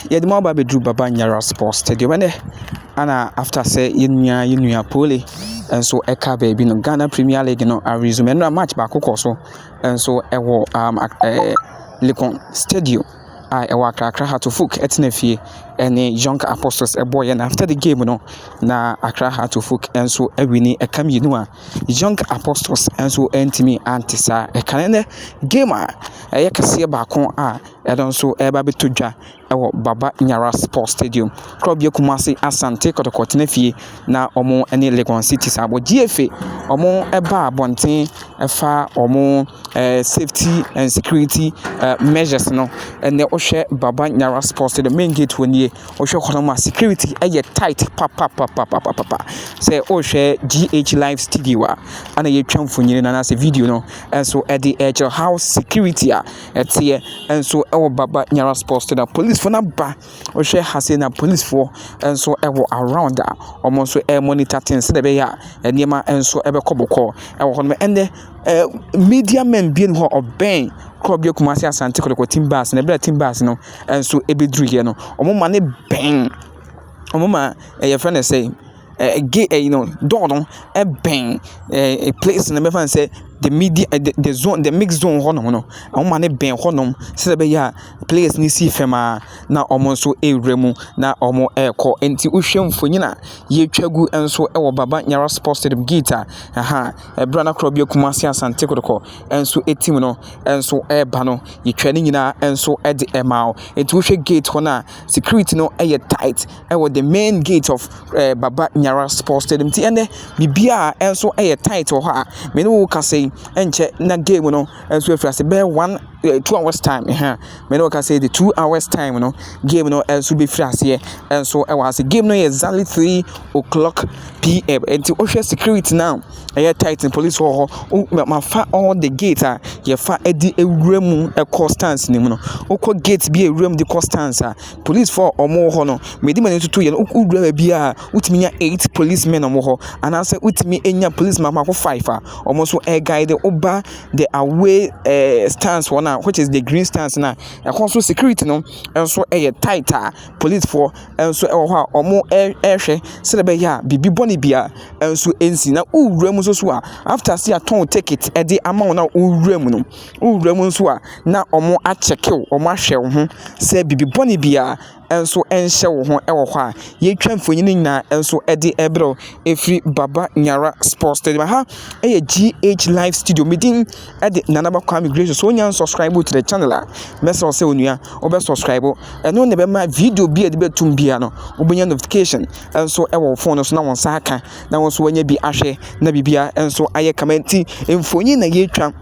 Yɛde mo aba abɛduru Baba Nyara Sports Stadium ɛnɛ ana after sɛ yɛn nua yɛn nua Pole nso ɛka baabi no Ghana Premier League no aresume ɛnora match baako kɔ so nso ɛwɔ um, ɛɛ Lekon Stadium a ɛwɔ Akrakra Hatofuk ɛtena fie ɛne Young Apostles ɛbɔ yɛn after the game no na Akra Hatofuk nso ɛwini ɛka mmienu a Young Apostles nso ɛntumi ante saa ɛka ɛnɛ game a ɛyɛ kɛseɛ baako a Ɛno nso ɛreba abɛtɔ dwa wɔ Baba Nyara Sports Stadium, Korɔbea Kumasi Asante Kɔtɔkɔ Tenafie na wɔn ne Legon City san bɔ. GFA wɔbaa abɔnten ɛfa wɔn safety and security measures no, ɛnɛ wohwɛ Baba Nyara Sports Stadium, main gate hɔ nie, wohwɛ hɔ nom a security ɛyɛ tight papapapapapa. Sɛ wohwɛ GH live studio a ɛna yɛtwa mfonini no anaasɛ video no nso ɛde ɛkyerɛ how security a. ɛteɛ nso wɔ Baba Nyara Sports Stadium. Polisifo no aba. Wohwɛ ha sei na polisifo nso wɔ around a wɔn nso remonitor things sɛdeɛ ɛbɛyɛ a nneɛma nso bɛkɔ bɔkɔɔ wɔ hɔ. Ɛnde ɛɛ media men bi wɔ hɔ a ɔbɛn kuro bi Kumasi Asante Kotoko Team Bus no. Ɛberɛ a team bus no nso bɛduruiɛ no, wɔma no bɛn wɔn ma wɔfrɛ no sɛn? eh, gay, eh, you know, door no ɛbɛn eh, eh, place no bɛfa sɛ the media eh, the, the zone the mix zone hɔ nom no wɔn ma ne bɛn hɔ nom sɛ ɛbɛyɛ a players no si fam a na wɔn nso ɛrewura mu na wɔn ɛrekɔ nti wohwɛ mfonyin a yɛtwa gu nso ɛwɔ baba nyara sports stadium gate a ɛha ɛbra no korɔ bi akuma ase asante kodokɔ nso ɛtim no nso ɛreba no yɛtwa ne nyinaa nso ɛde ɛma wo nti wohwɛ gate hɔ no a security no ɛyɛ tight ɛwɔ the main gate of ɛɛ baba nyara sports stadium ti ɛnɛ bibi a ɛnso ɛyɛ tight wɔ hɔ a mene wo kasa yi ɛnkyɛ na game no ɛnso afiri ase bɛyɛ one ɛɛ two hours time ɛhɛn mene wo kasa yi the two hours time no game no ɛnso bɛfiri aseɛ ɛnso ɛwɔ ase game no yɛ exactly three o'clock pm ɛnti wohwɛ security no a ɛyɛ tight police wɔ hɔ wo ma fa all the gate a yɛfa ɛde ɛwura mu ɛkɔ stands no mu no wokɔ gate bi a ɛwura mu de kɔ stands a Polisfoɔ a wɔwɔ hɔ no, mede m'ani toto yɛ no, woduru baabi a, wotumi nya eight policemen a wɔwɔ hɔ, anaasɛ wotumi nya polisi mako mako five a wɔn nso guide wo ba the away ɛɛ stands hɔ no a, which is the green stands no a. Ɛhɔ nso security no nso yɛ tight a polisfoɔ nso wɔ hɔ a wɔrehwɛ sɛdeɛ ɛbɛyɛ a biribi bɔne biara nso nsi. Na wowura mu nso so a, after sɛ yɛatɔn wo ticket de ama wo no a, wowura mu no. Wowura mu nso a, na wɔakyɛke wo, wɔahwɛ wo ho sɛ biribi bɔne biara nso nhyɛ wo ho wɔ hɔ a. Yɛatwa mfonin no nyinaa nso de rebrɛ wo ɛfiri Baba Nyara Sports Stadium. Aha yɛ GH Live Studio. Me din de Nana Ba Kwame Grace. So wonya nsubscribe to the channel a, mɛsrɛ wo sɛ onua wobɛ subscribe. Ɛno na ɛbɛma video bi a yɛde bɛtum biara no, wobɛnya notification nso wɔ wo phone no so na wo nsa aka. na wo nso woanya bi ahwɛ na biribiara nso ayɛ kama nti mfonin na yɛretwa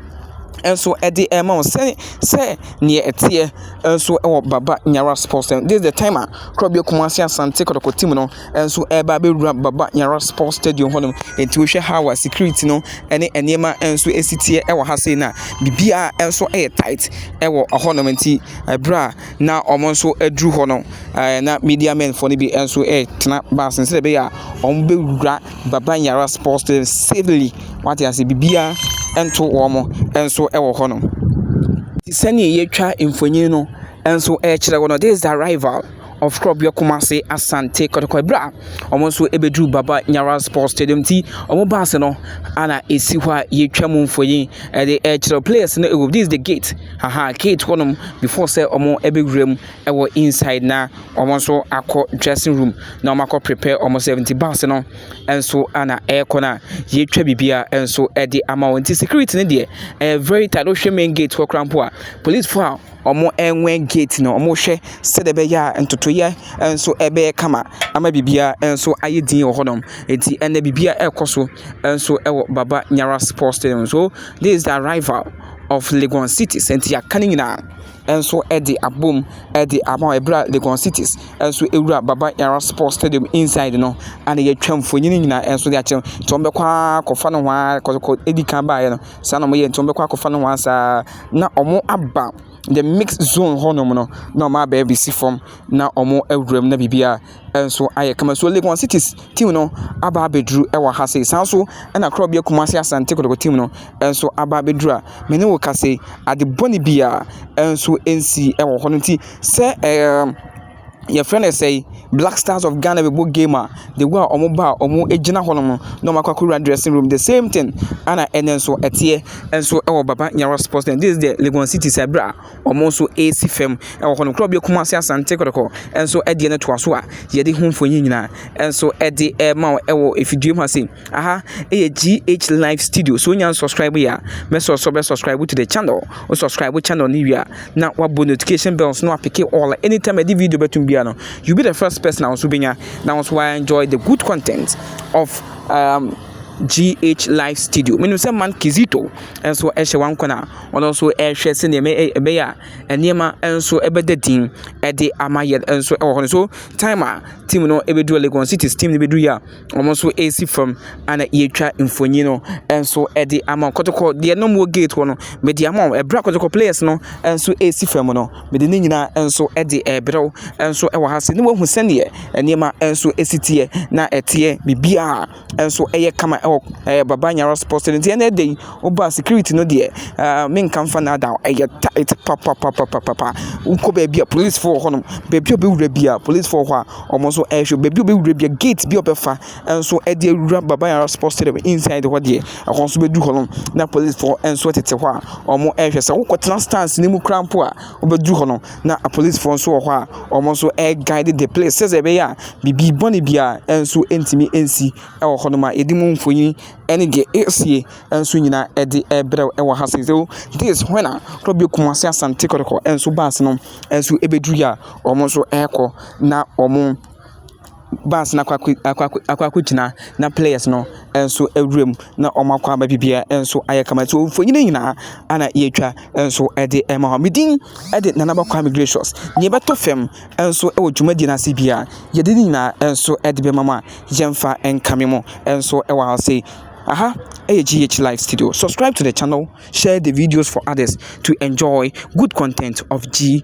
nso de rema wo sɛ sɛ neɛ ɛteɛ nso wɔ baba nyara sports stadium this is the time a korɔbea kumase asante kɔtɔkɔ team no nso ɛreba abɛwura baba nyara sports stadium hɔnom nti wohwɛ ha wa security no ɛne nneɛma nso ɛsi teɛ ɛwɔ ha sei na biribiara nso ɛyɛ tight ɛwɔ hɔnom nti ɛberɛ a na wɔn nso aduru hɔ no, ɛɛ na Midianfoɔ no bi nso retena bus no mu sɛdeɛ ɛbɛyɛ a wɔbɛwura Baban Yara Sports Stadium safely. Wate aseɛ? Biribiara nto wɔn nso wɔ hɔnom. Sɛdeɛ wɔatwa mfonin no nso kyerɛ wo no, this is the arrival of Korɔbea Kumasi Asante Kɔtɔkɔ berɛ a wɔn nso bɛduru Baban Yara Sports Stadium nti, wɔn bus no na ɛsi hɔ a wɔatwa mu mfonin de rekyerɛ wo. Players no wɔ mu, this is the gate. Aha gate hɔ nom before sɛ ɔmo ɛbɛ wura mu ɛwɔ inside na ɔmo nso akɔ dressing room na ɔmo akɔ prepare ɔmo sɛf nti bus no ɛnso ana ɛɛkɔ na yɛtwa biribiaa ɛnso ɛde ama wɔn nti security no deɛ ɛyɛ very tight wo hwɛ main gate hɔ koraa mpo a police foɔ a ɔmo ɛnwɛn gate no ɔmo hwɛ sɛdeɛ ɛbɛyɛ a ntotoyɛ ɛnso ɛbɛyɛ kama ama biribiaa ɛnso ayɛ din wɔ hɔ nom nti ɛnɛ biribiaa ɛɛkɔ so ɛnso ɛwɔ baba nyara sports stadium so this is the arrival. of Legon City sɛ nti yɛaka ne nyinaa nso de abom de ama wɔn ɛberɛ a Legon City nso ɛwura Baba Yara Sports Stadium inside no ɛna yɛatwa mfonini nyinaa nso de akyerɛ nti wɔn bɛkɔ ara akɔfa no ho ara kɔkɔ ɛdi kan baeɛ no saa na wɔyɛ nti wɔn bɛkɔ akɔfa no ho ara saa na wɔn aba the mixed zone hɔnom no na wɔn abɛbisi fam na wɔn awura mu na biribiara. nso ayɛ kama. So Legon Cities team no aba abɛduru wɔ ha sei. Saa nso na Korɔbea Kumase Asante Kotoko team no nso aba abɛduru a me ne wo ka sei, ade bɔne biara nso nsi wɔ hɔ no nti sɛ ɛɛ yɛfrɛ no sɛi Black Stars of Ghana bɛbɔ game a the way a wɔn ba a wɔn gyina hɔ nom no na wɔn akɔ akɔwura dressing room the same thing ɛna ɛnɛ nso ɛteɛ nso wɔ Baba Nyara Sports Center this is the Legon Cities ɛbra. Wɔn nso resi fam wɔ hɔnom. Kuro bi Kumasi Asante Kɔtɔkɔ nso deɛ no toa so a yɛde ho mfonin nyinaa nso de rema wo wɔ afidie mu ha sei. Aha yɛ GH Live Studio. So wonya subscribe yɛ a, mɛsɔ so bɛ subscribe to the channel. Wo subscribe channel no wie a, na wabɔ notification bells no apeke all. Anytime ɛde video bɛtum biara no, you be the first person a wo nso bɛnya na wo nso wa enjoy the good content of um, GH Live Studio. Menim sɛ man Kizito nso ɛhyɛ wankɔ no a ɔno nso rehwɛ sɛdeɛ ɛbɛ ɛ ɛbɛyɛ a nneɛma nso bɛda din de ama yɛn nso wɔ hɔ no. So time a team no bɛduru Legon Cities team no bɛduruiɛ a, wɔn nso resi fam ɛna yɛretwa mfonin no nso de ama wɔn. Kɔtɔkɔ deɛ na wɔwɔ gate hɔ no, mede ama wɔn. Ɛberɛ a Kɔtɔkɔ players no nso resi fam no, mede ne nyinaa nso de rebrɛ wo nso wɔ ha se na woahu sɛdeɛ nneɛma nso si teɛ na ɛteɛ biribiara. nso yɛ kama wɔ ɛɛ Baba Nyara Sports Stadium. Nti ɛnnɛ da yi, wo ba a, security no deɛ, ɛɛ menka mfa nnaadaa wo, ɛyɛ tight papapapapapa. Wokɔ baabi a, polisifo wɔ hɔnom. Baabi a wobɛwura biara, polisifo wɔ hɔ a wɔn nso rehwɛ wo. Baabi a wobɛwura biara, gate bi a wobɛfa nso de awura Baba Nyara Sports Stadium inside hɔ deɛ, ɛhɔ nso wobɛduru hɔnom na polisifo nso tete hɔ a wɔrehwɛ. Sɛ wokɔtena stands no mu koraa mpo a. Wobɛduru hɔ no, na apolisifoɔ nso wɔ hɔ a wɔn nso guide the place sɛdeɛ ɛbɛyɛ a biribi bɔne biara nso ntumi nsi wɔ hɔnom a yɛde mu mfonin ne deɛ ɛresie nso nyinaa de rebrɛ wo wɔ ha sei. So this is when a Kwabio Kumasi Asante Kɔtɔkɔ nso baase no nso bɛdurui a wɔn nso rekɔ na wɔn bus no akɔ akɔ akɔ akɔ akɔ akɔgyina na players no nso wura mu na wɔakɔ aba biribiara nso ayɛ kama. So mfonin no nyinaa na yɛretwa nso de rema hɔ. Me din de Nana Aba Kwame Gracious. Deɛ ɛbɛtɔ fam nso wɔ dwumadie no ase biara, yɛde ne nyinaa nso de bɛma mo a yɛmfa nkame mo nso wɔ ha sei. Aha yɛ GH Live Studio. Subscribe to the channel, share the videos for others to enjoy good content of G.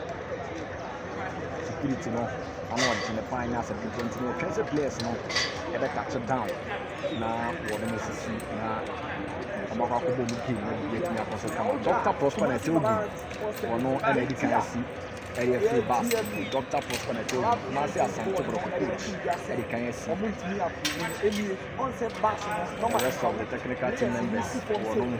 security no ano ɔden paa nyɛ asɛm ketewa nti yɛtwɛn sɛ players no ɛbɛ touch down na wɔn mo sisi na wɔn akɔ akɔbɔ mu game na biribi atumi akɔ so kama dr prosper na ɛsɛ obi wɔn ɛna edi kan asi ɛyɛ free bus dr prosper na ɛsɛ obi kumasi asante borɔfo coach ɛdi kan asi the rest of the technical team members wɔn mo.